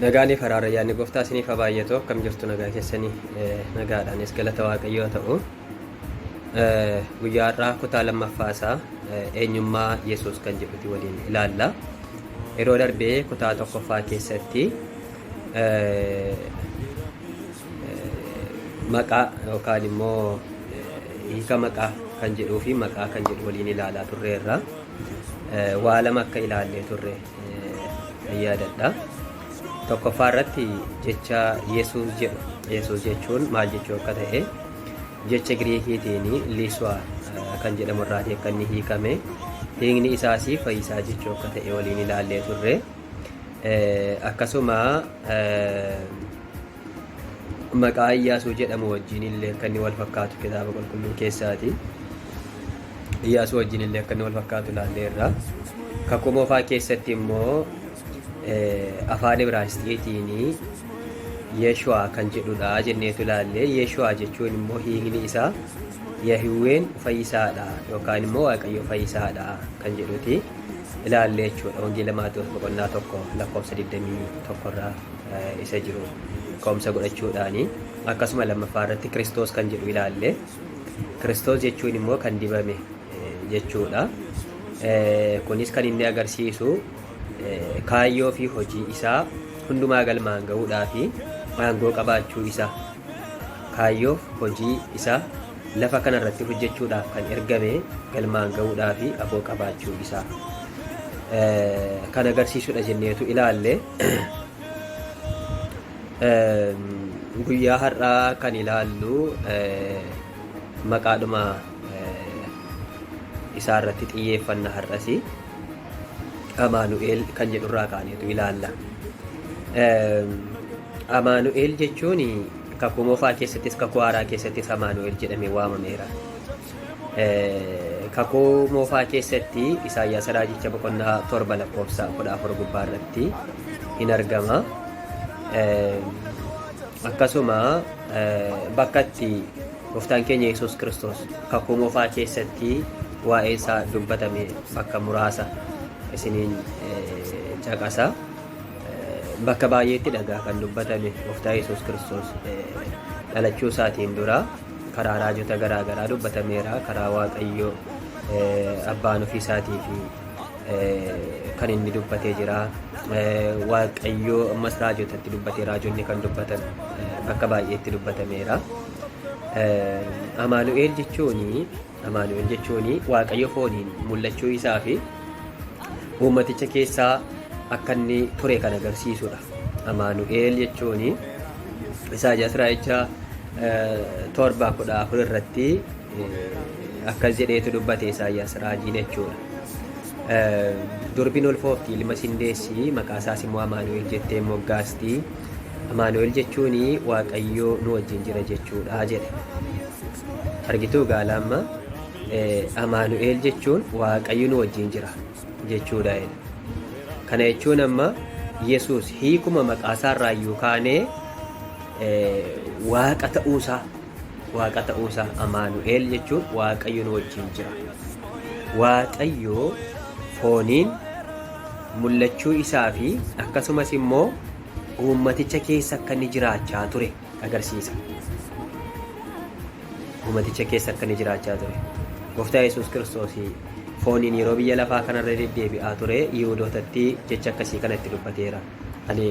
Nagaanii faraara yaanni gooftaa isiniif haa baay'atu akkam jirtu nagaa keessanii nagaadhaanis galata waaqayyoo ta'u guyyaa har'aa kutaa lammaffaa isaa eenyummaa Yesuus kan jedhuti waliin ilaalla. Yeroo darbee kutaa tokkoffaa keessatti maqaa yookaan immoo hiika maqaa kan jedhuu fi maqaa kan jedhu waliin ilaalaa turreerra. Waa lama akka ilaallee turre nan yaadadha. Tokkoffaa irratti jecha Yesuus jedhu. Yesuus jechuun maal jechuu akka ta'e jecha Giriikiitiin Liiswaa kan jedhamu irraatii akka inni hiikame hiikni isaas fayyisaa jechuu akka ta'e waliin ilaallee turre. Akkasuma maqaa Iyyaasuu jedhamu wajjin illee akka inni wal fakkaatu kitaaba qulqulluu keessaati. Iyyaasuu wajjin illee akka inni wal fakkaatu ilaalleerra. Kakuu moofaa keessatti immoo afaan Ibraayisxiitiin Yeeshuwaa kan jedhudha jenneetu ilaalle. Yeeshuwaa jechuun immoo hiikni isaa Yahiwween fayyisaadha yookaan immoo Waaqayyo fayyisaadha kan jedhuti ilaalle jechuudha. Wangeela Maatewos boqonnaa tokko lakkoofsa 21 irraa. isa jiru ka'umsa godhachuudhaani akkasuma lammaffaa irratti kiristoos kan jedhu ilaalle kiristoos jechuun immoo kan dibame jechuudha kunis kan inni agarsiisu kaayyoo fi hojii isaa hundumaa galmaan ga'uudhaa fi aangoo qabaachuu isaa kaayyoof hojii isaa lafa kana irratti hojjechuudhaaf kan ergame galmaan ga'uudhaaf aboo qabaachuu isaa kan agarsiisudha jenneetu ilaalle. Guyyaa har'aa kan ilaallu maqaadhuma isaa irratti xiyyeeffanna har'as Amaanu'eel kan jedhurraa kaaneetu ilaalla. Amaanu'eel jechuun kakuu moofaa keessattis kakuu haaraa keessattis Amaanu'eel jedhamee waamameera. Kakuu moofaa keessatti Isaayyaas raajicha boqonnaa torba lakkoofsa kudha afur gubbaa irratti hin argama. Akkasuma bakka itti gooftaan keenya Yesuus Kiristoos kakuu moofaa keessatti waa'ee isaa dubbatame bakka muraasa isiniin caqasa. Bakka baay'eetti dhagaa kan dubbatame Gooftaa Yesuus Kiristoos dhalachuu isaatiin dura karaa raajota garaa garaa dubbatameera. Karaa Waaqayyoo abbaan ofii isaatii fi kan inni dubbatee jira. Waaqayyoo ammas raajotatti dubbatee raajonni kan dubbatan bakka baay'eetti dubbatameera. Amaanu'eel jechuun Amaanu'el jechuun Waaqayyo fooniin mul'achuu isaa fi uummaticha keessaa akka inni ture kan agarsiisudha. Amaanu'el jechuun Isaayaas raajicha torba kudha afur irratti akkas jedheetu dubbate Isaayaas raajiin jechuudha. Durbiin ulfoofti ilma sindeessi maqaa isaas immoo Amaanu'el jettee moggaasti. Amaanu'el jechuun Waaqayyo nu wajjin jira jechuudha jedhe. Argituu gaala amma Amaanu'eel jechuun Waaqayyo nu wajjin jira jechuudha. Kana jechuun amma Yesuus hiikuma maqaasaa irraa iyyuu kaanee Waaqa ta'uusaa Waaqa ta'uusaa Amaanu'eel jechuun Waaqayyo nu wajjin jira. Waaqayyo fooniin mul'achuu isaa fi akkasumas immoo uummaticha keessa akka inni jiraachaa ture. agarsiisa. Uumaticha keessa akka inni jiraachaa ture. Gooftaa Yesuus Kiristoos fooniin yeroo biyya lafaa kanarra deddeebi'aa ture Yihudootatti jecha akkasii kana itti dubbateera. Ani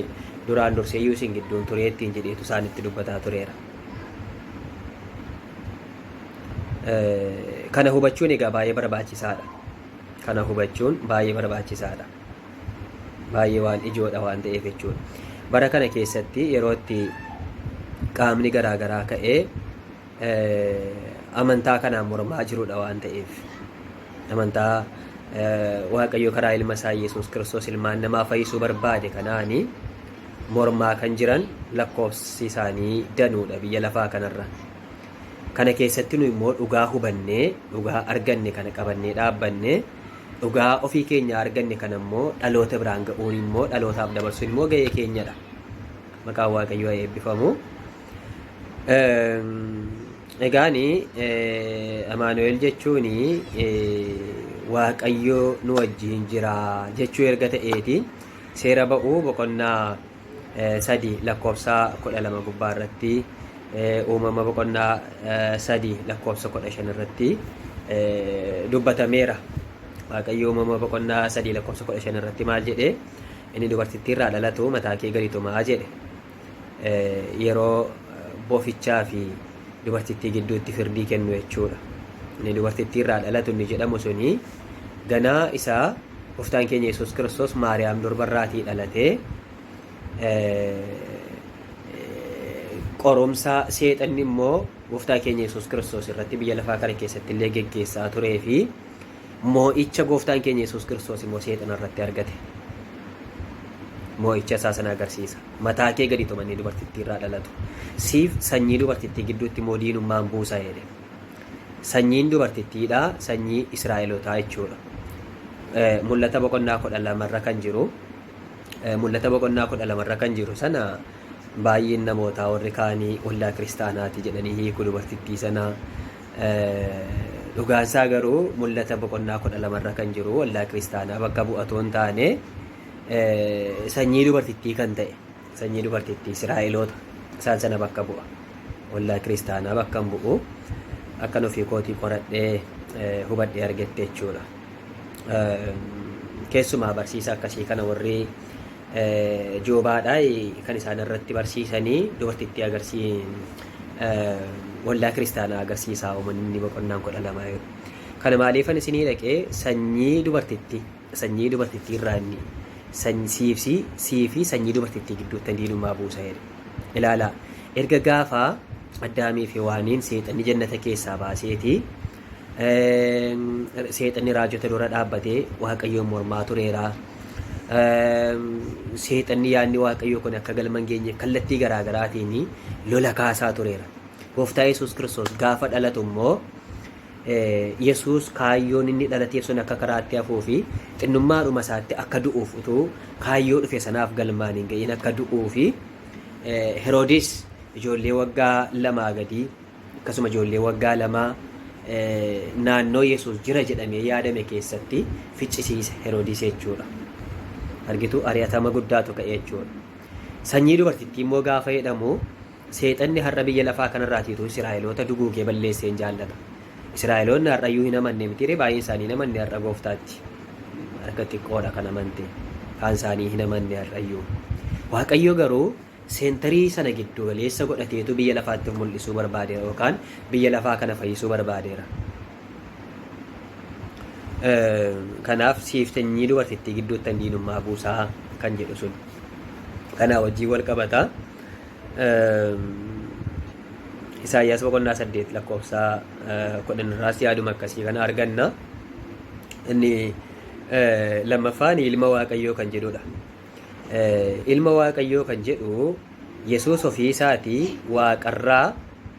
duraan dursee iyyuu isin gidduun turee ittiin jedheetu isaan itti dubbataa tureera. Kana hubachuun egaa baay'ee barbaachisaadha. Kana hubachuun baay'ee barbaachisaadha. baay'ee waan ijoodha waan ta'eef jechuudha. Bara kana keessatti yeroo itti qaamni garaagaraa ka'ee amantaa kanaan mormaa jirudha waan ta'eef amantaa waaqayyo karaa ilma isaa Yesuus Kiristoos ilmaan namaa fayyisuu barbaade kanaani mormaa kan jiran lakkoofsi isaanii danuudha biyya lafaa kanarra. Kana keessatti nu immoo dhugaa hubannee dhugaa arganne kana qabannee dhaabbanne Dhugaa ofii keenyaa arganne kana immoo dhaloota biraan ga'uun immoo dhalootaaf dabarsuun immoo ga'ee keenyadha. Maqaan Waaqayyoo haa eebbifamu. Egaani Amaanu'eel jechuun Waaqayyoo nu wajjin jira jechuu erga ta'eeti seera ba'uu boqonnaa 3 lakkoofsa 12 gubbaa irratti uumama boqonnaa 3 lakkoofsa 15 irratti dubbatameera. Waaqayyo uumama boqonnaa 3 lakkoofsa 15 irratti maal jedhe inni dubartittii irraa dhalatu mataa kee gadi tumaa jedhe. Yeroo bofichaa fi dubartittii gidduutti firdii kennu jechuudha. Inni dubartittii irraa dhalatu inni jedhamu suni Ganaa isaa Gooftaan keenya Yesuus Kiristoos Maariyaam durbarraatii dhalatee qorumsa seexanni immoo Gooftaa keenya Yesuus Kiristoos irratti biyya lafaa kana keessatti illee geggeessaa turee fi moo'icha Gooftaan keenya Yesuus Kiristoos immoo seexana irratti argate. Moo'icha isaa sana agarsiisa. Mataa kee gadi tumanii dubartittii irraa dhalatu. Siif sanyii dubartittii gidduutti immoo diinummaan buusa jedhe. Sanyiin dubartittiidha, sanyii Israa'elotaa jechuudha. Mul'ata boqonnaa kudha lamarra kan jiru mul'ata boqonnaa kudha lamarra kan jiru sana baay'een namootaa warri kaanii waldaa kiristaanaati jedhanii hiiku dubartittii sana. Dhugaan isaa garuu mul'ata boqonnaa kudha lamarra kan jiru waldaa kiristaanaa bakka bu'atoo hin taane sanyii dubartittii kan ta'e. Sanyii dubartittii Israa'eloota isaan sana bakka bu'a. Waldaa kiristaanaa bakka hin bu'u. Akkan ofii kootii qoradhee hubadhee argetti jechuudha. Keessumaa barsiisa akkasii kana warri joobaadhaa kan isaan irratti barsiisanii dubartittii agarsiin waldaa kiristaanaa agarsiisaa uumanni boqonnaan kudha lama. Kana maaliifan isinii dhaqee sanyii dubartittii sanyii dubartittii irraa inni sanyi, siif, si, sii fi sanyii dubartittii gidduuttan diinummaa buusa jedhe. Ilaalaa, erga gaafa Addaamii fi Hewaaniin seexanni jannata keessaa baaseeti, eem, seexanni raajota dura dhaabbatee Waaqayyoon mormaa tureera. Eem, seexanni yaadni Waaqayyoo kun akka galma hin geenyeef kallattii garaa garaatiin lola kaasaa tureera. Gooftaa Yesuus Kiristoos gaafa dhalatu immoo Yesuus kaayyoon inni dhalateef sun akka karaatti hafuu fi xinnummaadhuma isaatti akka du'uuf utuu kaayyoo dhufe sanaaf galmaan hin ga'iin akka du'uu fi Heroodis ijoollee waggaa lamaa gadii akkasuma ijoollee waggaa lamaa naannoo Yesuus jira jedhamee yaadame keessatti ficcisiise Heroodis jechuudha. Argitu ari'atama guddaatu ka'e jechuudha. Sanyii dubartittii immoo gaafa jedhamu Seexanni har'a biyya lafaa kanarraatii utuu Isiraa'eloota duguugee balleessee hin jaallata. Isiraa'eloonni har'ayyuu hin amanne mitiiree? Baay'een isaanii hin amanne har'a Gooftaatti. Harka xiqqoodha kan amante. Kaan isaanii hin amanne har'ayyuu. Waaqayyo garuu seentarii sana giddu galeessa godhateetu biyya lafaatti of mul'isuu barbaadeera yookaan biyya lafaa kana fayyisuu barbaadeera. Kanaaf siif sanyii dubartittii gidduuttan diinummaa buusaa kan jedhu sun kanaa wajjin wal qabata. Isaayyaas boqonnaa saddeet lakkoofsa kudhan irraas yaaduma akkasii kana arganna. Inni lammaffaan ilma waaqayyoo kan jedhudha. Ilma waaqayyoo kan jedhu Yesuus ofii isaatii waaqarraa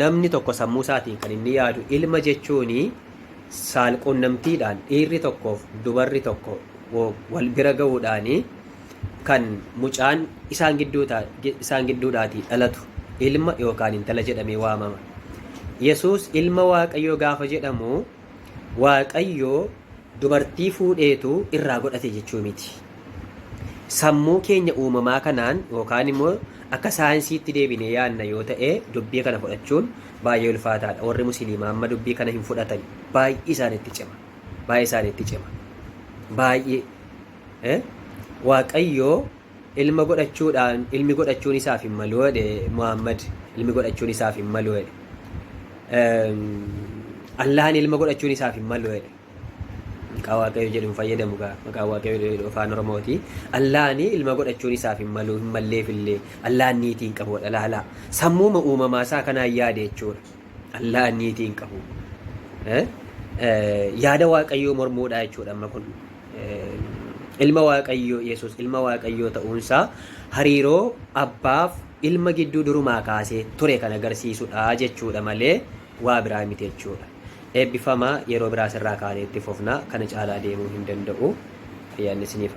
Namni tokko sammuu isaatiin kan inni yaadu ilma jechuun saalquunnamtiidhaan dhiirri tokkoof dubarri tokko wal bira ga'uudhaan kan mucaan isaan gidduudhaatii dhalatu ilma yookaan intala jedhamee waamama. Yesuus ilma Waaqayyoo gaafa jedhamu Waaqayyoo dubartii fuudheetu irraa godhate jechuu miti. Sammuu keenya uumamaa kanaan yookaan immoo akka saayinsiitti deebinee yaadna yoo ta'e dubbii kana fudhachuun baay'ee ulfaataadha. Warri musliimaa amma dubbii kana hin fudhatan. Baay'ee isaanitti cima. Baay'ee isaanitti cima. Baay'ee. Eh? Waaqayyoo ilma godhachuudhaan ilmi godhachuun isaaf hin malu jedhe Muhammad ilmi godhachuun isaaf hin malu jedhe. Ehm, Allahan ilma godhachuun isaaf hin malu jedhe. maqaa waaqayyo jedhu hin fayyadamu gaa maqaa waaqayyo jedhu afaan oromooti allaani ilma godhachuun isaaf hin malu hin malleef illee allaan niitii hin qabu dhalaalaa sammuuma uumamaa isaa kanaan yaade jechuudha allaan niitii hin qabu Eh? Eh, yaada waaqayyoo mormuudha jechuudha amma kun Eh, ilma waaqayyoo yesus ilma waaqayyoo ta'uunsaa hariiroo abbaaf ilma gidduu durumaa kaasee ture kan agarsiisudha jechuudha malee waa biraa miti jechuudha. Eebbifamaa yeroo biraa asirraa kaanee itti fufna kana caalaa deemuu hin danda'u. Ayyaanni isiniif haa.